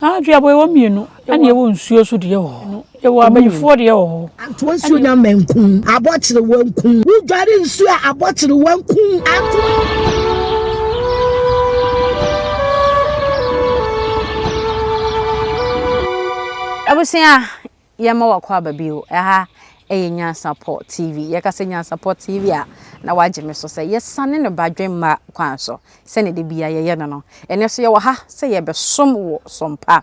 Aa duaboɔ yɛwɔ mmienu ɛna yɛwɔ nsuo so deɛ wɔ hɔ yɛwɔ abayifoɔ deɛ wɔ hɔ. Antoa nsuo nya mmɛ nku abɔkyerewa nku wo dware nsuo a abɔkyerewa nku antoa. Abusua yɛma wakɔ aba bio. Ɛha yɛ Nyansapɔ TV. Yɛka sɛ Nyansapɔ TV a, na woagye me so sɛ yɛsane no ba dwemma kwan so sɛnea da biara yɛyɛ no no. Ɛnnɛ nso yɛwɔ ha sɛ yɛrebɛsom wo som pa.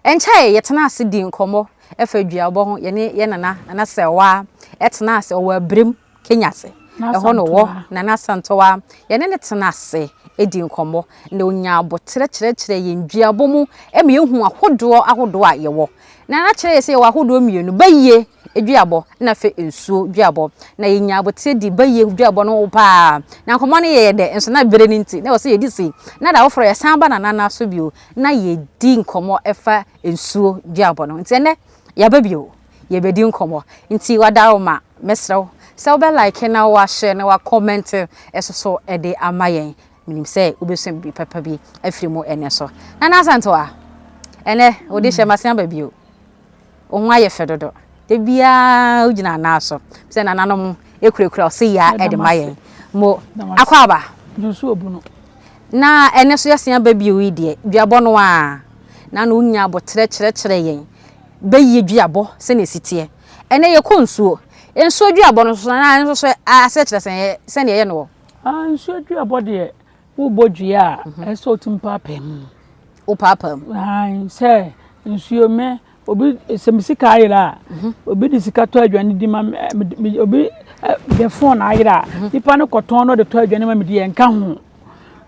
Ɛnkyɛe yi, yɛtenaa ase dii nkɔmmɔ fa duabɔ ho. Yɛne yɛn nana, Nana Sewaa, tenaa ase. Ɔwɔ Abirimu. Kenya ase. Ɛhɔ na ɔwɔ, Nana Asantewaa. Yɛne no tena ase dii nkɔmmɔ, na ɔnyaa aboterɛ kyerɛkyerɛɛ yɛn duabɔ mu ma yɛhuu ahodoɔ ahodoɔ a yɛwɔ. Nana kyerɛɛ yɛn sɛ yɛwɔ ahodoɔ mmienu, bayie duabɔ na afei nsuo duabɔ, na yɛnyaa aboterɛ dii bayie duabɔ no ho pa ara. Na nkɔmmɔ no yɛɛ dɛ, nso na berɛ no nti, na ɛwɔ sɛ yɛdi sei, na da foforɔ yɛsan ba Nana nan so bio na yɛdi nkɔmmɔ fa nsuo duabɔ no ho. Nti ɛnnɛ, yɛaba bio. yɛbɛdi nkɔmmɔ. Nti Wadaroma, mɛsrɛ wo sɛ wobɛ like na woahyɛ na woakɔmɛnte nso so de ama yɛn. Menim sɛ wobɛsua biribi papa bi afiri mu ɛnnɛ so. Nana Asantewaa, ɛnnɛ wo de hyɛ masen aba bio. Wo ho ayɛ fɛ dodo. Da biara wogyina anaa so. Sɛ nananom kurakura ɔse yaa de ma yɛn. Mo Akwaaba, na ɛnnɛ so yɛasen aba bio yi deɛ, duabɔ no ara. Nana wo nyaa aboterɛ kyerɛkyerɛɛ yɛn. bɛyie duabɔ sɛdeɛ ɛsi teɛ. Ɛnnɛ yɛkɔ nsuo, nsuo duabɔ no nso anaa nso so aseɛ kyerɛ sɛn yɛ sɛdeɛ ɛyɛ no wɔ. Aa nsuo duabɔ deɛ wobɔ dua a ɛsɛ sɛ wotumi paapaa mu. Wopaapaa mu. Ae sɛ nsuo mɛ obi sɛ me sika ayera a mhm. obi de sika tɔ aduane di ma obi de fon ayera a mhm. nipa no kɔtɔn no de tɔ aduane ma me di yɛn ka ho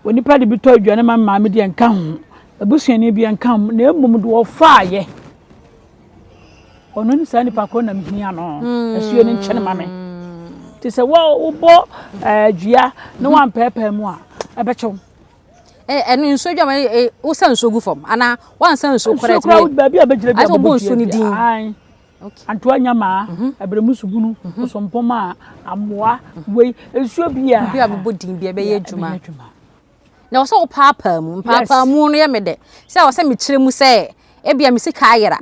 onipa de bi tɔ aduane ma maame di yɛn ka ho Abusuani bi nka ho, na mmom deɛ ɔfaeɛ. Ɔno ne saa nipa korɔ na mehia no. Hmm. Asuo no nkyɛn ma me. Te sɛ wobɔ eh, dua na wampɛɛpɛɛ mu a, ɛbɛkyɛw. Eh, ɛno nsuo dwama eh, wosa nsuo gu fam anaa wansa nsuo korɛ nsuo korɛ baabi a bɛgyina bi a bɛbɔ nsuo no din antoa nyamaa mhm. abiremu subunu mhm. osompoma amoa mhm. wei nsuo bi a bi a bɛbɔ din bi a bɛyɛ adwuma na ɔsɛ wo paapaa mu mpaapaa mu no yɛ me dɛ sɛ ɔsɛ me kyerɛ mu sɛ ebia me sika ayera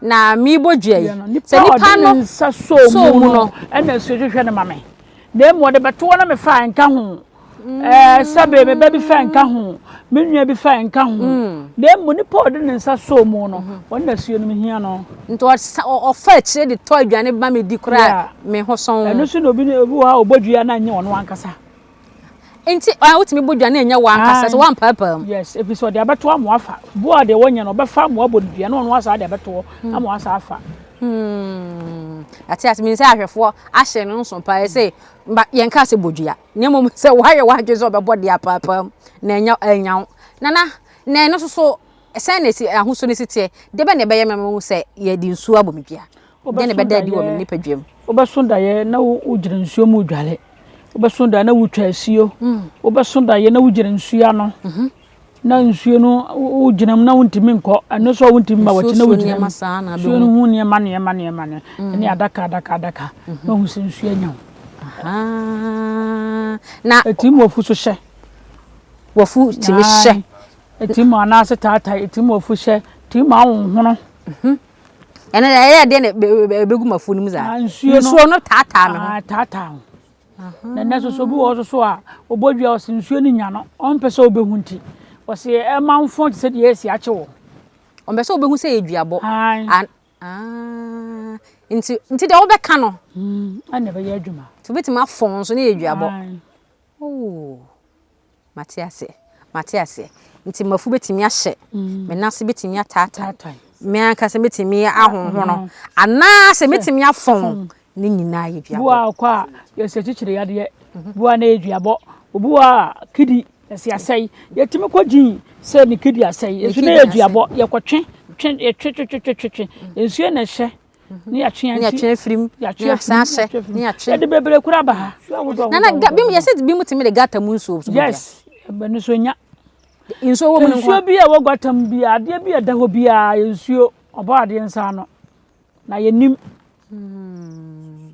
na mebɔ dua yi sɛ nipa no nsa soo mu no ɛna nsuo hwehwɛ no ma me na emu ɔde bɛtoɔ na mefa nka ho mm. ɛɛ sɛbe me ba bi fa nka ho me nua bi fa nka ho mm. na emu nipa ɔde ne nsa soo mu no mm-hmm. wɔn na suo no me hia no. nti ɔfa akyire de tɔ aduane ba me di koraa me ho sɔn. ɛno so na obi obi wɔ hɔ a ɔbɔ dua na nye ɔno ankasa. Nti ɔyɛ wotumi bɔ dua na ɛnyɛ wankasa sɛ wampaapae mu. Yes, ɛfiri sɛ ɔde abɛto ama wafa. Boɔ a deɛ wɔnyɛ no ɔbɛfa ama wabɔ no dua na ɔno asaa de abɛto hɔ hmm. ama wasaa afa. Hmm. Ate ase menim sɛ ahwɛfoɔ ahyɛ no nso paa sɛ yɛnka sɛ bɔ dua na mmom sɛ woayɛ w'adwene sɛ ɔbɛbɔ de apaapaam na ɛnya ɛnya wo nana na ɛno soso sɛn na ɛsi ahosuo no si teɛ de bɛ na ɛbɛyɛ mɛma mu sɛ yɛde nsuo abɔ me dua. Dɛn na ɛbɛda adi wɔ me nipadua mu? Wobɛso daeɛ na wogyina nsuo mu redware. Wobɛso daeɛ na wotwa asuo. Mm. Wobɛso daeɛ na wogyina nsuo ano. Mhm. Na nsuo no wogyina mu na wontumi nkɔ. Ɛno nso a wontumi ma wɔkyi na wogyina mu. Nsuo no ho nneɛma nneɛma nneɛma no. Mm. Ɛne adaka adaka adaka. Mhm. Na wohu sɛ nsuo anya wo. Na ɛtim mu afu so hyɛ. Wafu tumi hyɛ. Ɛtim mu anaase taatae. Ɛtim mu afu hyɛ. Ɛtim mu ahohono. Mhm. Ɛno deɛ ɛyɛ deɛ na ɛbɛgu m'afuo no mu saa. Nsuo no nsuo no taataa me ho. Ah, taataa ho. Na ɛnɛ soso bi wɔ hɔ soso a ɔbɔ dua ɔsi nsuo no nya no ɔmpɛ sɛ ɔbɛhu nti ɔsi ɛma nfɔn te sɛ deɛ ɛsi akye wɔ. Ɔmpɛ sɛ ɔbɛhu sɛ yɛ dua bɔ. An. Ah, nti nti deɛ wobɛka no. Hmm, ɛna ɛbɛyɛ adwuma. Nti wobɛtumi afɔn nso ne yɛ dua bɔ. Oh. Mate aseɛ, mate aseɛ. Nti mmafu bɛtumi ahyɛ, me nan ase bɛtumi ataatae, me ankasa mɛtumi ahohono, anaasɛ mɛtumi afɔn, ne nyinaa yɛ duabɔ. Bi wɔ hɔ a, yɛsɛ kyekyere yadeɛ, bi wɔ hɔ a na ɛyɛ duabɔ, obi wɔ hɔ a kidney ɛsɛ asɛe, yɛtumi kɔ gyin sɛ ne kidney asɛe, nso na ɛyɛ duabɔ, yɛkɔtwe, twe, yɛtwe twe twe twe twe, nsuo na ɛhyɛ. ne yɛtwe ne yɛtwe afiri mu ne yɛsan ahyɛ ne yɛtwe yɛde bebree kura ba ha na na bi mu yɛsɛ bi mu tumi de gata mu nsuo so yes ɛbɛn nsuo nya nsuo wɔ mu no nsuo bi a ɛwɔ gata mu bi adeɛ bi a ɛda hɔ bi a yɛ nsuo ɔbɔ adeɛ nsa ano na yɛnim hmm.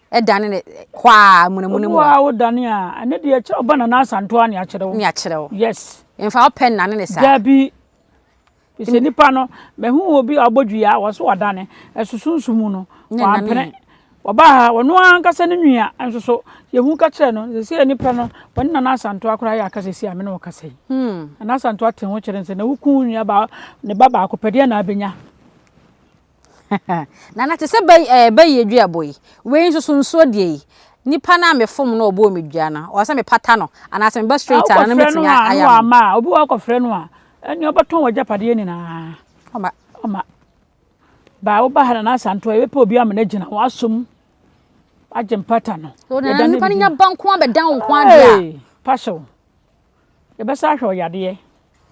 dane ne hɔ a munamuna mu. Obu a wodane a, ɛno deɛ ɛkyerɛ ɔba Nana Asanto a ne akyerɛ wo. Ne akyerɛ wo. Yes. Mfa wopɛ nnane ne saa. Dabi. Sɛ nipa no, mahu obi a ɔbɔ dua a wɔso wadane, ɛsosonso mu no, wampene. Ɔba ha, ɔno ankasa ne nua nso so, yɛhu ka kyerɛ no, sɛ sɛ nipa no, wɔne Nana Asanto akora yɛ akasa si a me ne ɔkasa yi. Hmm. Nana Asanto ate ho kyerɛ sɛ na woku nua ba, ne ba baako pɛdeɛ na abɛnya. Nana te sɛ bɛ ɛɛ bɛ yie dua bɔ yi, wei nso so nsuo deɛ yi, nipa no a me fom no ɔbɔɔ me dua no, ɔwɔ sɛ me pata no, anaa sɛ me ba straight a, nana mɛtumi ayɛ ama no. Wokɔ frɛ no a, na wamma a, obi wɔ hɔ wokɔ frɛ no a, ɛneɛ ɔbɛtɔn w'agyapadeɛ nyinaa. Ɔma. Ɔma. Ba woba ha Nana Asantew a, yɛbɛpɛ obi ama no agyina, wasɔ mu, agye mpata no. So nana nipa no nya ba nko ara bɛdan wo nko ara deɛ a. Hey! Pahyew. Yɛbɛsan ahwɛ wo yadeɛ.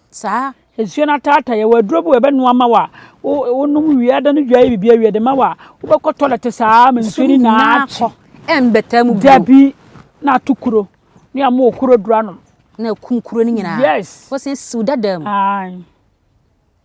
Saa. Nsuo no ataata yɛ. Wɔ aduro bi wɔ ɛbɛnoa ma wɔ a, wonom wie ada no dwa yɛ biribi awie de ma wɔ a, wobɛkɔ tɔlɛte saa ma nsuo no nyinaa akyi. Ɛmbɛtaa mu bio. Dabi na ato kuro ne ama wɔ kuro duro anom. Na akum kuro no nyinaa. Yes. Wɔsan siw dada mu. Ae.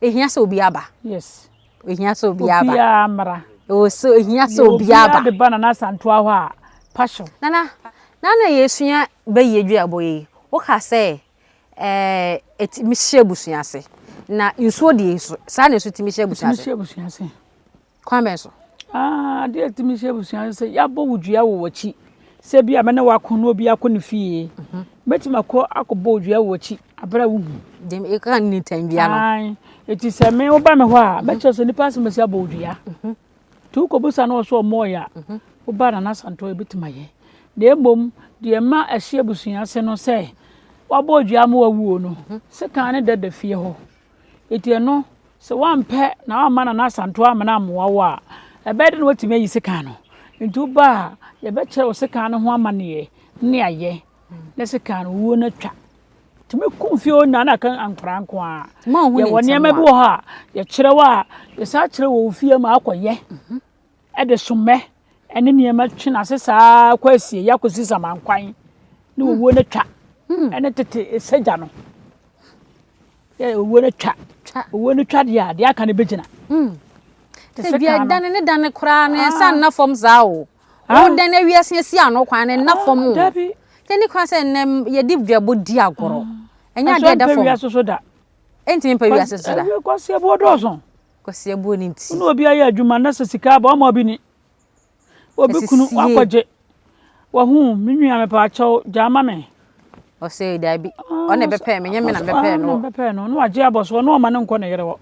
ehia sɛ obi aba yes ehia sɛ obi aba obi amra ɛwɔ sɛ ehia sɛ obi aba obi de ba nana asanto ahɔ a passion nana nana yɛsua bɛyie duabɔ yi woka sɛ ɛɛ eti mi hyɛ abusua ase na nsuo deɛ nso saa na nso ti mi hyɛ abusua ase Kwan bɛn so? Ade a ɛtumi hyɛ abusua no sɛ yɛabɔ wo dua wɔ w'akyi sɛ bi a mɛne wako na obi akɔ ne fie mhm. mɛtumi akɔ akɔbɔ wo dua wɔ w'akyi aberɛ a wohu ɛka ne tam bia no ɛti sɛ me woba me hɔ a mhm. mɛkyerɛ sɛ nnipa asɛm asi abɔ wo dua mhm. nti wokɔbusa no wɔ so ɔmmɔɔyɛ a woba na nasantɔ ɛbɛtumi ayɛ na mmom deɛ ma ɛhye abusua ase no sɛ wabɔ dua ma wawuo no sɛ kan ne dada fie hɔ Enti ɛno, sɛ woampɛ na woamma Nana Asantew Amena ammoa wo a, ɛbɛyɛ dɛn na woatumi ayi sekan no? Enti woba a, yɛbɛkyerɛ wo sekan no ho amanneɛ ne ayɛ na sekan no wuo no atwa. Tumi kum fie hɔ nyinaa na aka nkwadaa nko ara. Yɛwɔ nneɛma bi wɔ hɔ a yɛkyerɛ wo a, yɛsan kyerɛ wɔ wo fie ma akɔyɛ. de sommɛ ne nneɛma twe n'ase saa kɔ asieeɛ akɔsi samankwan ne owuo no twa ne tete sagya no yɛ owuo no twa owuo no twa deɛ a deɛ aka no bɛgyina ebi ɛdane ne dane koraa no ɛnsa nna fam saa o wodane awiase asi ano kwan no nna fam o ɛne koraa sɛ nnɛ yɛde dwabɔ di agorɔ ɛnyɛ adeɛ ɛda fam ɛntumi mpɛ wiase so da kwaseɛboɔ dɔɔso Kwasia buo ne nti. Wo ne obi ayɛ adwuma na sɛ sika aba ɔma obi ni. Obi kunu Asisie. wakɔgye. Wahu me nua mepaakyɛw gyaa ma me. Ɔsɛ daabi. Ah, Ɔne ɔsɛ- bɛpɛɛ me nyɛ me na ɔsɛ- ah, bɛpɛɛ me no. na bɛpɛɛ no na wagye abɔ so ɔno ɔma ne nkɔ ne yere hɔ.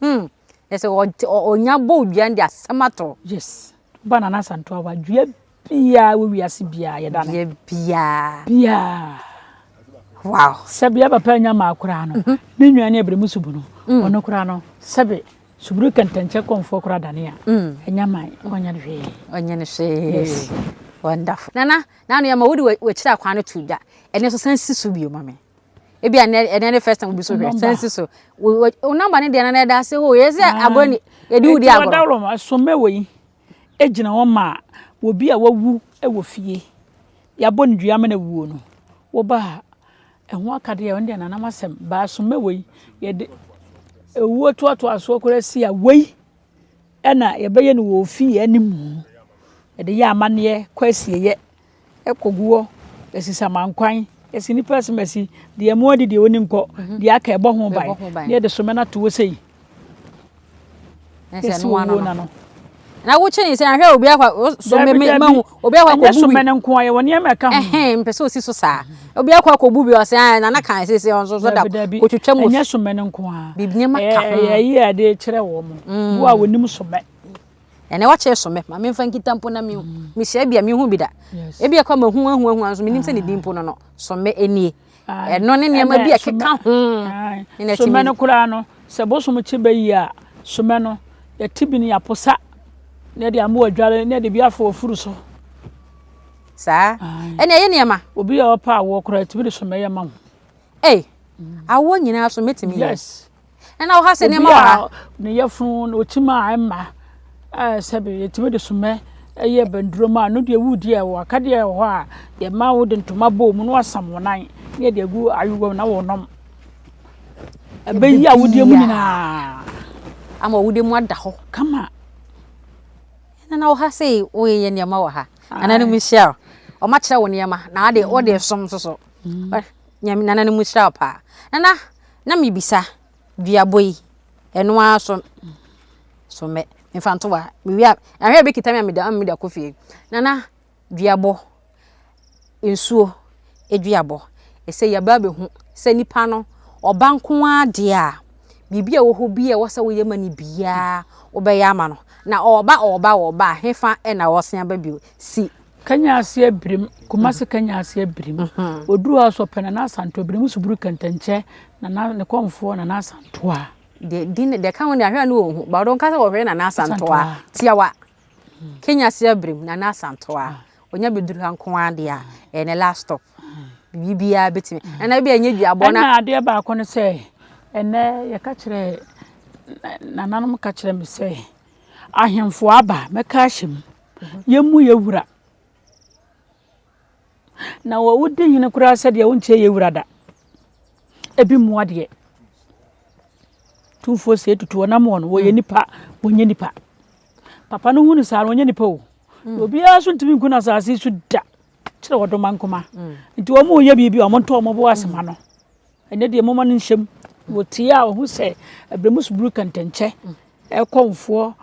Hmm. Ɛsɛ ɔte- ɔ- ɔnya bɔ odwan de asɛm ato. Yes. Ba Nana Asantewa wadua Biaa wɔ wiase biaa yɛda no. Bia biaa. Biaa. Wow. Sɛbi yɛ papa nya maa koraa no, ne nwa ne abirimu subu no, ɔno koraa no, sɛbi suburu kɛntɛnkyɛ kɔnfoɔ koraa dane a, ɛnya man, ɔnyɛ no hwee. Ɔnyɛ no hwee. Yes. Wonderful. Nana, nanu yɛ ma wode wakyiri akwan no to dwa. Ɛne so san si so bio ma me. Ebi a ɛne ne first time obi so hwɛ, san si so. Wo number ne deɛ na na ɛda ase hoo, yɛ sɛ agorɔ ni, yɛde wudi agorɔ. Ɛti wɔ dawuro ma, so mɛ wɔ yi. gyina hɔ ma obi a wawu wɔ fie. Yɛabɔ no dua ma no awuo no, woba a, ɛho akadeɛ a, ɛno deɛ Nanam asɛm, baasoma wei, yɛde ɛwuo toatoasoɔ koraa si a, wei na yɛbɛyɛ no wɔ ofie anim. Yɛde yɛ amanneɛ kɔ asieeɛ. Ɛkɔgu hɔ, ɛsi samankwan, ɛsi nnipa asimasi, deɛ ɛmu adi deɛ ɔni nkɔ, mhm. deɛ aka ɛbɔ ho ban, deɛ ɛde somɛ no ato hɔ sei. Ɛsi wɔ wuo na no. na wokye ne sɛ ahwɛ obi akɔ so mɛhu obi akɔ akɔbu bi ɛnyɛ sɔmɛ nko ayɛ wɔ nneɛma ɛka ho ɛhɛn mpɛ sɛ osi so saa obi akɔ akɔbu bi ɔsɛ ayɛ nana kan sɛ sɛ ɔnso so da kotwitwa mu ɛnyɛ sɔmɛ nko a biribi nneɛma ka ho ɛyɛ ɛyɛ ade kyerɛ wɔn mo a wɔnim sɔmɛ ɛnɛ wakyɛ so me ma memfa nkita mpo na mehu mehyɛ bi a mehu bi da ebi ɛkɔ ma hu ahu ahu nso menim sɛ ne din mpo no no so me ɛnie ɛno ne nneɛma bi a ɛkeka ho ne so me no koraa no sɛ bosom kye bɛyi a so me no yɛte bi no yɛaposa na ɛde amoa adware na ɛde bi afɔ afuru so saa ɛne ɛyɛ nneɛma obi a ɔpa awoɔ koraa ɛtumi de so mɛyɛ ma ho ei awoɔ nyinaa so mɛtumi yes ɛna wɔ ha sɛ nneɛma wɔ ha. ne yɛfunu na ɔtim a ɛma sɛbi yɛtumi de somɛ ɛyɛ bɛndurom a no deɛ wudi a wɔ akadeɛ wɔ hɔ a yɛma wode ntoma bɔ mu na wasam wɔn nan na yɛde agu ayowam na wɔnom ɛbɛyi a wodeɛ mu nyinaa ama wodeɛ mu ada hɔ kama ɛna na wɔ ha sɛ woyɛ nneɛma wɔ ha ana no mu hyia ɔma kyerɛ wo nneɛma na ade wode som nso so mm. nyame nana no mu hyira paa nana Na mebisa, Duabɔ yi, ɛno ara so so mɛ mfa nto wa mewie a ahwɛ bi kita me a meda ama meda kɔ fie na na duabɔ nsuo aduabɔ ɛsɛ yɛba abɛhu sɛ nipa no ɔba nko ara deɛ a biribi a ɛwɔ hɔ bi a ɛwɔ sɛ woyɛ ma no biara wobɛyɛ ama no na ɔba ɔba ɔba hefa ɛna ɔsen aba bio si Kenya ase abirim, Kumasi Kenya ase abirim. Oduru hɔ so ɔpɛ Nana Asanto abirim so buru kɛntɛnkyɛ Nana ne kɔmfoɔ Nana Asanto a. Deɛ di ne deɛ ka ho ne ahwɛ ne wɔn ho ba ɔdɔn kasa wɔhwɛ Nana Asanto a tiawa Kenya ase abirim Nana Asanto a onya bɛduru ha nko ara deɛ a ɛyɛ ne last stop biribiara bɛtumi ɛna ebi a ɛnyɛ duabɔ na adeɛ baako ne sɛ ɛnɛ yɛka kyerɛ nananom ka kyerɛ me sɛ ahemfo aba mɛka ahyɛ mu Yɛn mu yɛ wura. Na wɔ wodi hene koraa sɛ deɛ wonkyɛ yɛ wura da. Ebi mmoa deɛ. Tumfoɔ sɛ etutu wɔn amoɔ no wɔyɛ nipa wɔnyɛ nipa. Papa no hunu saa no wɔnyɛ nipa o. Mm. Obiara so ntumi nku na asase so da kyerɛ wɔdoma nkoma. Mm. Nti wɔn yɛ biribi a wɔn ntɔ wɔn bo ase ma no. Ɛnnɛ deɛ momma no nhyɛ mu. Wɔtie a wɔhu sɛ ɛberɛ mu suburu kɛntɛnkyɛ ɛkɔ mfoɔ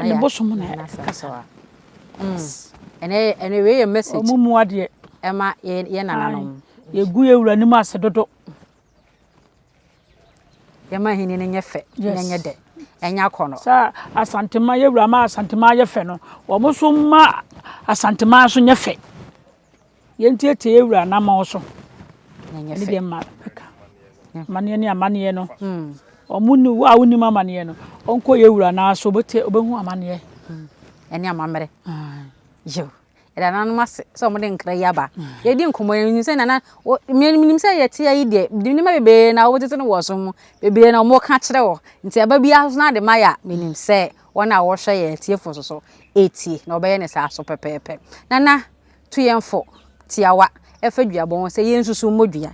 ne bosom na ɛkasa. Ɛnɛ ɛnɛ wei yɛ message. Wɔn mu adeɛ. Ɛma yɛ yɛ nananom. Yɛgu yɛ wura anim ase dodo. Yɛma ahenni no nyɛ fɛ na nyɛ dɛ ɛnyɛ akɔ no. Sɛ asantema yɛ wura ma asantema yɛ fɛ no wɔn nso ma asantema nso nyɛ fɛ. Yɛntiatia yɛn wura anammɔn so. Ɛnyɛ fɛ. Ɛne deɛ mma bɛka. Amaneɛ ne amaneɛ no. Hmm. Ɔmo ni wo a wonim amaneɛ no. Ɔnkɔ yɛn wura naa so ɔbɛte ɔbɛhu amaneɛ. Hmm. Ɛne amammerɛ. Yo. Ɛda nanom ase sɛ ɔmo de nkra yi aba. Hmm. Yɛdi nkɔmɔ yɛn nim sɛ nana menim sɛ yɛte ayi deɛ nneɛma bebree na wotete no wɔ so mu bebree na ɔmo ka kyerɛ wɔ nti ɛba bi aso na de ma yɛ a menim sɛ wɔn a wɔhwɛ yɛn atiefo so so etie na ɔbɛyɛ ne saa so pɛpɛɛpɛ nana tu yɛn fo tiawa fa duabɔ ho sɛ yensusuw mmɔ dua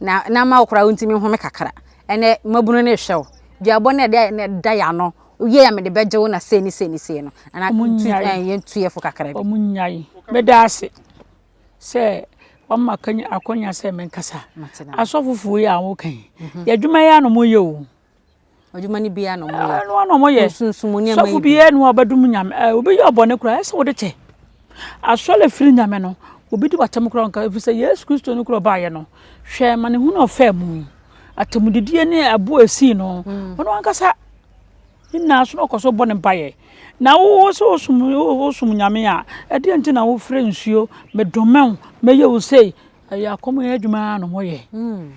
na na ama wo koraa wontumi nhome kakra. Ɛnɛ mmabunu no rehwɛ wo. Duabɔ no ɛde na ɛda yɛ ano. Wowie a mede bɛgye wo na sei ne sei ne sei no. Ana tu ɛn yɛntu yɛ fo kakra bi. Wɔn nyae. Meda ase sɛ wɔma akwanya sɛ menkasa. Asɔfofoɔ yi a wɔka yi, yɛ adwuma yi ara na wɔyɛ o. Adwuma no biara na wɔyɛ. Ah, ɛno na wɔyɛ. Nsunsumu nneɛma yi. Sɔfo bi yɛ no a ɔbɛdum nyame. Eh, obi yɛ ɔbɔne koraa, ɛsɛ wode kyɛ. Asɔre firi nyame no, obi di w'atam koraa nka, ɛfiri sɛ Yesu Kristo no koraa ɔbaayɛ no. Hwɛ ma ne hu na ɔfaa mu yi. Atamdidie ne ɛbo a ɛsii no, mm. ɔno ankasa ne nyinaa so na ɔkɔ so bɔ ne mpaeɛ. Na wo sɛ wosum nyame a, ɛdeɛ nti na wofrɛ nsuo, medomɛw, mɛyɛ wo sei. Ɛyɛ akɔm yɛ adwuma na wɔyɛ. Mm.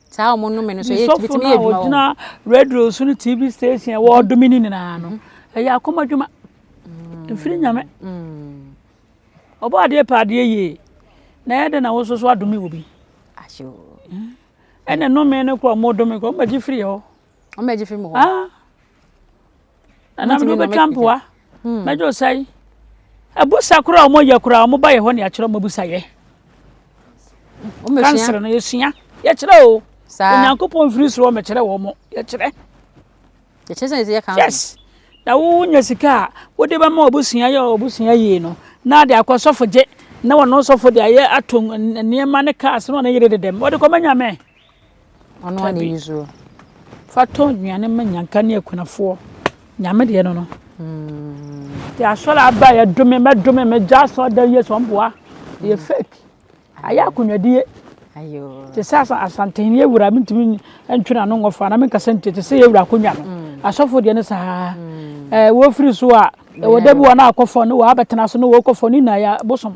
saa wɔn nnome no so ɛyɛ tumi tumi yɛ adwuma wɔ ɔgyina radio so no tv station ɛwɔ mm-hmm. ɔdome no nyinaa no mm-hmm. ɛyɛ akoma adwuma mm-hmm. mfiri nyame ɔbɔ adeɛ pɛ adeɛ yie na ɛyɛ dɛ na wo so so adome wɔ bi ɛna nnome no kɔ ɔmo dome kɔ ɔmo agye firi hɔ ɔmo bɛgye fi mu hɔ ah ɛnam de wobɛtwa mpoa mɛgye wo sɛe abusa koraa ɔmo yɛ koraa ɔmo ba yɛ hɔ ne akyerɛ ɔmo abusa yɛ kansere no yɛsua yɛkyerɛ o onyankopɔn mfiri soro ɔmɛkyerɛ wɔ mo yɛkyerɛ yes na wonya sika a wode bɛma ɔbusua yɛ ɔbusua yie no na de akɔ sɔfo gye na wɔn sɔfo de ayɛ ato nneɛma ne kaa sɛ na ɔne yere dedɛm wɔde kɔma nyame Ɔno ara na ɛyi soɔ. Fa tɔ nnuane ma nyanka ne akunafoɔ. Nyame deɛ no no. Nti asɔre aba yɛ dome mɛ dome mɛ gya asɔre dan yɛ sɔn boa. Yɛ fake. Ayɛ akonnwadie. Te sɛ asantehene yɛ wura mentumi ntwe n'ano ngɔ fa na menkasa nti te sɛ yɛ wura akonnwa no. Asɔfo deɛ no saa. Ɛɛ wɔfiri so a ɛwɔ da bi wɔn a akɔfɔ ne wɔn abɛtena so ne wɔn kɔfɔ ne nyinaa yɛ bosom.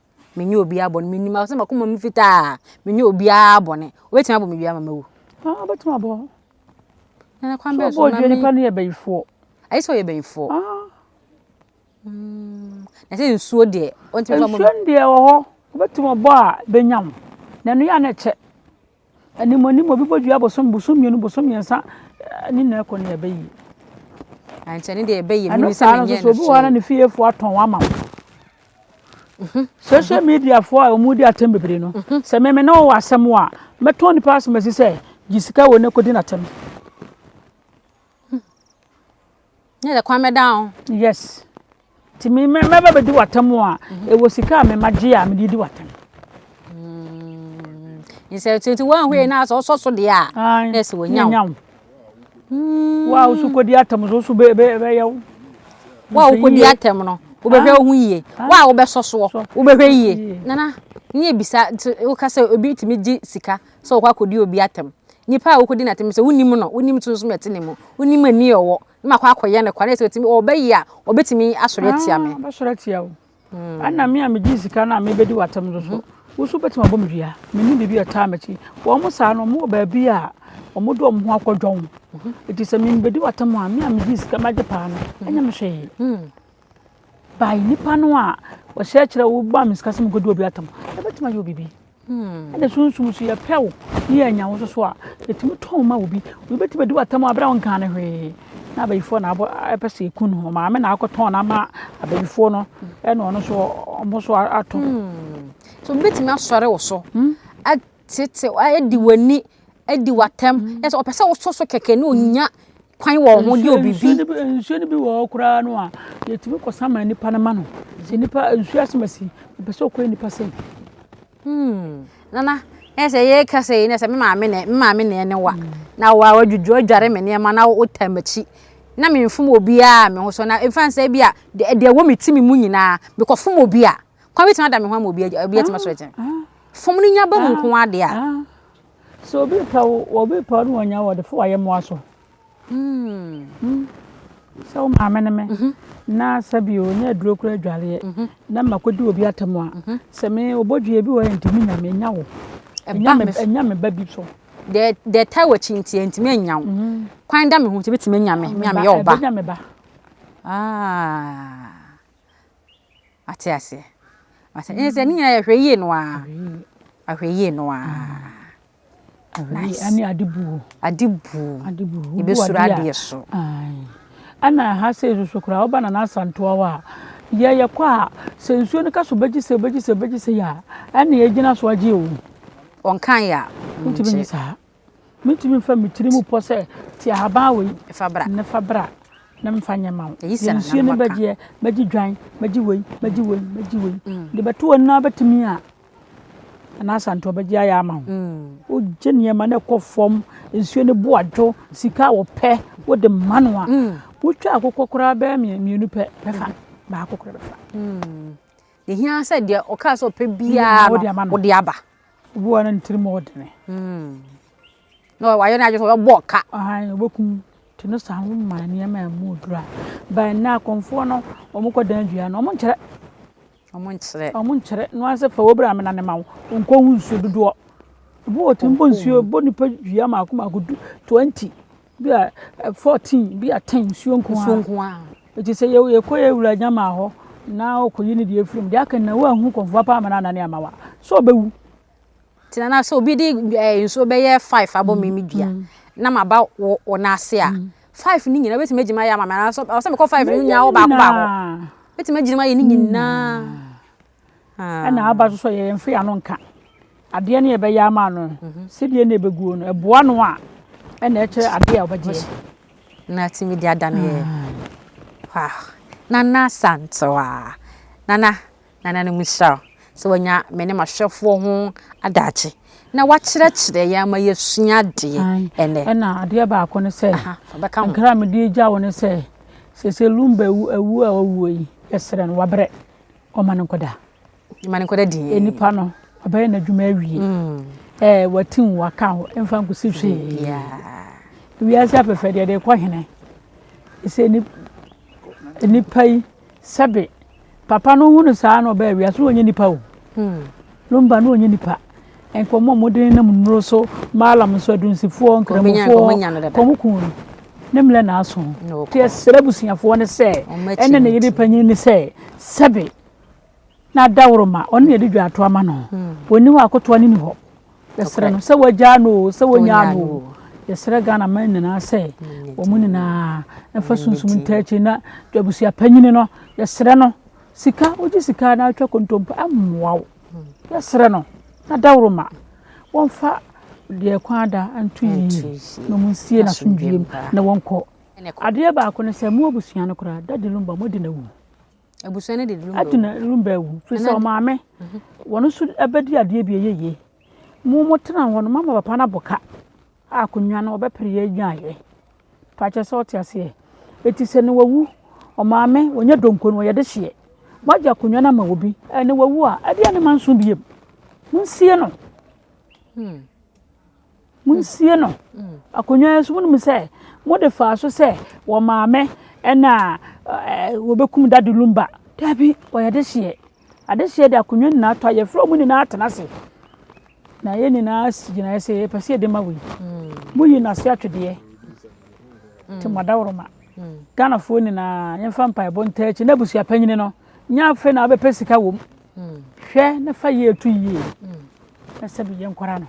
menyɛ obiara bɔne menim sɛ makoma mu fitaa menyɛ obiara bɔne wobɛtumi abɔ me dua ma mawu wobɛtumi abɔ nana kwan bɛɛ so dua nipa no yɛ bɛyifoɔ ayɛ sɛ ɔyɛ bɛyifoɔ na sɛ nsuo deɛ nsuo deɛ wɔ hɔ wobɛtumi ɔbɔ a bɛnya mo na ɛno yɛ a na ɛkyɛ Anim anim obi bɔ dua bosom bosom mmienu bosom mmiɛnsa eh, ne nyinaa kɔ ne ɛbɛ yie. Ankyɛ ne deɛ ɛbɛ yie ɛno saa no nso obi wɔ hɔ na ne fiefoɔ atɔn ama wo. Mhm. social media foɔ a wɔn di atɛm bebree no mhm. sɛ mɛmɛ na wɔwɔ asɛm a mɛtɔn nipa asɛm asi sɛ gye sika wɔ ne kɔdi n'atɛm. Nyɛ dɛ kwan bɛda ho. Yes nti me me mɛba bɛdi w'atam a ɛwɔ sika a mema gye a mede di w'atam. Nsɛ nti nti wɔn ahwɛ na asɛ ɔsɔ so deɛ a na ɛsɛ wɔn nyaw. Wo a wosu kɔdi atam so wosu bɛ bɛ bɛyɛ wo. Wo a wokɔdi atam no wobɛhwɛ wo ho yie. Wo a wobɛsɔ soɔ wobɛhwɛ yie. Nana ne ebisa woka sɛ obi tumi gye sika. sɛ wɔkɔ akɔdi obi atɛm. Nipa a wokɔdi no atɛm no sɛ wonim no, wonim sunsum a ɛte ne mu, wonim ani a ɔwɔ, na makɔ akɔyɛ no kwa, na sɛ ɔtumi, ɔbɛyɛ a, ɔbɛtumi asɔre atia me. Ɔbɛsɔre atia wo. Ɛna me a megyee sika no a mebɛdi w'atɛm no so, wo nso wobɛtumi abɔ me dua. Menim biribi a ɛtaa m'akyi. Wɔn saa no, wɔwɔ baabi a wɔde wɔn ho akɔdwɔn. Nti sɛ mebɛdi w'atɛm a, me a megyee sika magye paa no, ɛnyɛ me hwee. By nipa no a ɔhyɛ kyerɛ wo ba me sika sɛ me kɔ di obi atam ɛbɛtumi ayɛ obibi hmm. ɛna sunsum so yɛpɛ wo ne yɛ anya wo so so a ɛtumi tɔn ma obi obi bɛtumi adi w'atam a berɛ a wonka ne hwee na abayifoɔ na abɔ ɛpɛ sɛ ɛku no ho maame na akɔtɔn no ama abayifoɔ no ɛna ɔno so ɔmo so atɔ hmm. so obi bɛtumi asɔre wo so hmm? tete adi w'ani adi w'atɛm mm-hmm. ɛsɛ ɔpɛ sɛ wosɔ so kɛkɛ ne onya kwan wɔ ho de obibi nsuo no bi wɔ hɔ koraa no a yɛtumi kɔ sama nipa no ma no sɛ nipa nsuo asɛm asi ɔpɛ sɛ ɔkɔ nipa sɛm hmm. nana ɛsɛ yɛ kasa yi nɛsɛ me maame nɛ me maame nɛ ne wa na wa wa dwudwu adware me nneɛma na wo tam akyi na me mfom obiara me ho so na mfa nsɛ bi a deɛ wɔ me ti me mu nyinaa mekɔ fom obi a Kwa bɛtumi ada me ho ama obi agya, obi atumi akyerɛ kyɛn. Fam no nya ba mu nko ara deɛ a. Sɛ obi pɛ wo, obi pɛ wo ne wɔnya wo, ɔde fo wayɛ mmoa so. Hmm. Hmm. Sɛ wo maame ne me, mhm. na sɛ bi ɔnya aduro kora adwareɛ, mhm. na ma kɔdi obi atam a, mhm. sɛ me obɔdwie bi wɔ ntumi nya me, nya wo. Ɛnya me ba bi so. Deɛ ɛtaa wɔ akyi nti, ntumi anya wo. Kwan da me ho nti, bɛtumi anya me, me a meyɛ ɔba. Ɛbɛnya me ba. Ah. Wate aseɛ? Wate ɛnyɛ sɛ ne nyinaa yɛ hwɛ yie no ara. Ahwɛ yie no ara. Nice. Ɛne ade buo. Ade buo. Ade buo. Yɛbɛsuro adeɛ so. Ɛna ha sei soso koraa woba na n'asantoa hɔ a yɛ yɛkɔ a sɛ nsuo no ka so bɛgye sɛ bɛgye sɛ bɛgye sɛ yɛ a ɛna yɛgyina so agye o. Wɔnkaeɛ a. Wontumi nyɛ saa. Metumi fa me tiri mu pɔ sɛ, Te ahaban wei na fa bra na memfa nyɛ mma wo. Yɛ nsuo no bɛgyeɛ, mɛgye dwan, mɛgye wei, mɛgye wei, mɛgye wei. Mede bɛto w'anim na wobɛtumi a, anaasɛ anto a bɛgye ayɛ ama wo. Wogye nneɛma no kɔ fam, nsuo no bo adwo, sika a wɔpɛ wode ma no a, wotwa akokɔ koraa bɛyɛ mmienu pɛ, bɛfa, baako koraa bɛfa. Ɛhia sɛ deɛ ɔkaa sɛ ɔpɛ biara no wode aba. Obi wɔ hɔ a na ne tirim yɛ ɔdene. Na wayɛ n'adwene sɛ ɔbɛbɔ ɔka. Ahan, ɔbɛkum. Nti no saa no womaa nneɛma a ɛmu duru a. But nnɛ akɔmfoɔ no, wɔkɔdan dua no, wɔnkyerɛ. Wɔnkyerɛ. Wɔnkyerɛ. No ara sɛ fa w'abura mena no ma wo, nkɔhu nsuo dodoɔ. Ebi wɔ hɔ ɔtumi bɔ nsuo, ɔbɔ nipa dua mmaako mmaako du, twenty. Bi a eh, fourteen, bi a ten nsuo nko ara. Nsuo nko ara. Eti sɛ yɛ yɛ kɔ yɛ wura nyama hɔ na ɔkɔyi ne deɛ efiri mu deɛ aka na wo ahu kɔnfoɔ paa ma na anane ama wa so ɔbɛwu. Ti na na sɛ obi de ɛɛ eh, nsuo bɛyɛ five abɔ mm, mi mi dua mm. na ma ba wɔ wɔ n'ase a mm. five ni nyinaa obetumi agyima yɛ ama mi anaasɛ ɔsɛ mi kɔ five ni nyinaa wɔ baako baako obetumi agyima yɛ ni nyinaa. ɛna aba so so yɛ yɛn fɛ ano nka adeɛ no yɛbɛyɛ ama no mhm. sɛdeɛ na ɛbɛguo no ɛboa no a ɛna ɛkyerɛ adeɛ a wɔbɛgyeɛ na tumi de ada no yɛ ah. nana santoa nana nana no mu hyira sɛ wanya me ne mahwɛfoɔ ho adagye na wakyerɛkyerɛ yɛ ama yɛsua adeɛ ɛnɛ ɛna adeɛ baako no sɛ nkra mede gya wo no sɛ sɛ sɛ lumba awu a wawuo yi yɛserɛ no wabrɛ Ɔma no nkɔda. Ɔma no nkɔda dinn. Onipa no, ɔbɛyɛ n'adwuma awie. Mm. Ɛɛ wati wo aka wo mfa nkosi hwee. Wiase afɛfɛ deɛ de kɔ hene. Ɛsɛ ni nipa yi sɛbe papa no hu no saa na ɔbɛyɛ wiase wɔnyɛ nipa o. Hmm. Lumba no ɔnyɛ nipa nka ɔmo a ɔmo de nenam nnuro so Mallam nso adunsifoɔ nkramofoɔ nka ɔmo kuu no ne mmerɛ na aso nti ɛsrɛ abusuafoɔ no sɛ ɛne ne yere panyin no sɛ sɛbe na adaworo ma ɔne yɛde dwa ato ama no ɔni hɔ akotoa ne ni hɔ yɛsrɛ no sɛ wagyaa no o sɛ wɔnyaa no o yɛsrɛ Ghana man nyinaa sɛ wɔn nyinaa ɛfa sunsum ntaakyi na abusuapanyini no yɛsrɛ no Sika, wogye sika na wotwa kontompo ɛmmoa wo. Yɛsrɛ no na dawuroma wɔmfa deɛ kwan ada nto yie na wɔnsie n'asomdwie mu na wɔnkɔ. Adeɛ baako ne sɛ mo abusua no koraa Daddy Lumba moadi no awu. Abusua no de Lumba awu. Adi no Lumba awu. Firi sɛ ɔmaame mhm. wɔn nso bɛdi adeɛ bi ɛyɛ yie. Mo mo tena hɔ no mama papa no abɔ ka a akonnwa no ɔbɛpere yɛ nyaayɛ. Fakyɛ sɛ ɔte aseɛ eti sɛ ne wawu ɔmaame wɔnyɛ donko no wɔyɛ de hyeɛ wagye akonnwa no ama obi ɛne wawu a ɛdeɛ ne ma nso biem monsie no hmm. monsie no hmm. akonnwa nso monim sɛ mode faa so sɛ wɔmaame ɛna wɔbɛkum dade lumba daabi wɔyɛ de hyeɛ Adesua de akonnwa nyinaa to a yɛfrɛ wɔn nyinaa tena ase na yɛn nyinaa si gyinaeɛ sɛ yɛpɛ sɛ yɛde ma wei hmm. moyi no ase atwedeɛ nti hmm. madaworoma hmm. ghanafoɔ nyinaa yɛmfa mpaebɔ ntaa akyi na abusua panyini no nyɛ afei na wobɛpɛ sika wɔ m hwɛ na fa yie to yie na sɛ biyɛ nkɔra no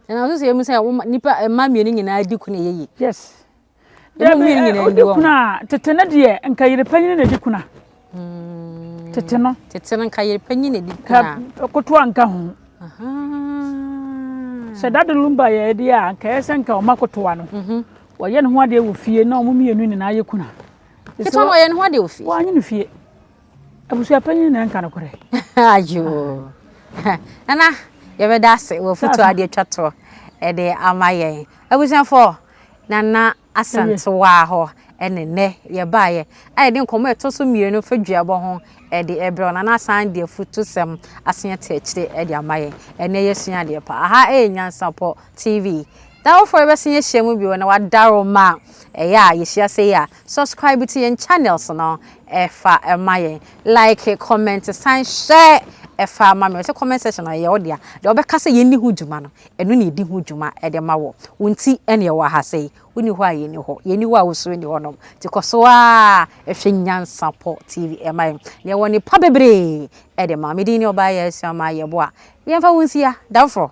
ɛna nso sɛ ɛmu sɛ nipa mma mmienu nyinaa di ko na ɛyɛ yie yes Dabi, wodi kuna tete no deɛ nka yere panyin na edi kuna. Hmm. Tete no. Tete no nka yere panyin na edi kuna. Kotoa nka ho. Sɛ dade lumba yɛ ɛde a nka ɛsɛ nka ɔma kotoa no. Mhm. Wɔyɛ ne ho adeɛ wɔ fie na wɔn mmienu nyinaa yɛ kuna. Ketewa no wɔyɛ ne ho adeɛ wɔ fie. Wɔanyɛ no fie. Abusuapanyin na ɛnka nokorɛ. Ayoo. Nana, yɛbɛda ase wɔ foto a de atwa toɔ de ama yɛn. Abusuafoɔ, Nana Asantewaa hɔ ne nnɛ yɛbaeɛ a yɛde nkɔmmɔ a ɛtɔ so mmienu fa duabɔ ho de rebrɛ wo. Nana asan de afutusɛm asen ate akyire de ama yɛn. Ɛnnɛ yɛasua adeɛ paa. Aha yɛ Nyansapɔ TV. Daworofoɔ yɛbɛsan ahyia mu bio na wɔadaworo ma ɛyɛ a yɛhyia sei a. Subscribe to yɛn channels no ɛfa ma yɛn like comment san share ɛfa ma me ɔsɛ comment section no ɛyɛ wo dea deɛ ɔbɛka sɛ yɛnni ho dwuma no ɛno na ɛdi ho dwuma ɛde ma wɔ wo nti ɛne ɛwɔ aha sɛ yi wonni hɔ a yɛnni hɔ yɛnni hɔ a wosuo nni hɔ nom nti kɔ so a ɛhwɛ Nyansapɔ TV ɛma yɛn na ɛwɔ ne pa bebree ɛde ma me din ne ɔbaa yɛ asua ma yɛboa yɛmfa wo nsia damforo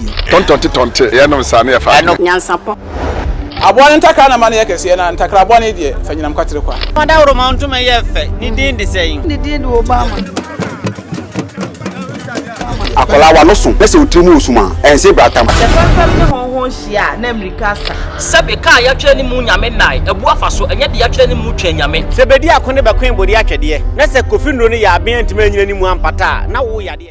yie. Tɔntɔnte tɔnte yɛ nom saa na yɛ fa adwene. Nyansapɔ. Aboa no ntakra na ma no yɛ kɛseɛ na ntakraboa no deɛ fa nyinam kwatere kwa. Ɔdawuroma ntoma yɛ fɛ, ne din de sɛn? Ne din de Obama. Akwadaa w'ano so na sɛ wo tiri mu wɔ sum a, ɛnse bra tam. Sɛ fɛmfɛm ne hɔnhɔn hyia a, na mmirika asa. Sɛbe kaa yɛatwerɛ ne mu nyame nnae, abu afa so, ɛnyɛ deɛ yɛatwerɛ ne mu twɛn nyame. Sɛ bedi ako ne bɛkoe bode atwɛdeɛ, na sɛ Kofi Nnuro no yɛ aben antumi anyina ne mu ampata a, na wo yɛ adeɛ.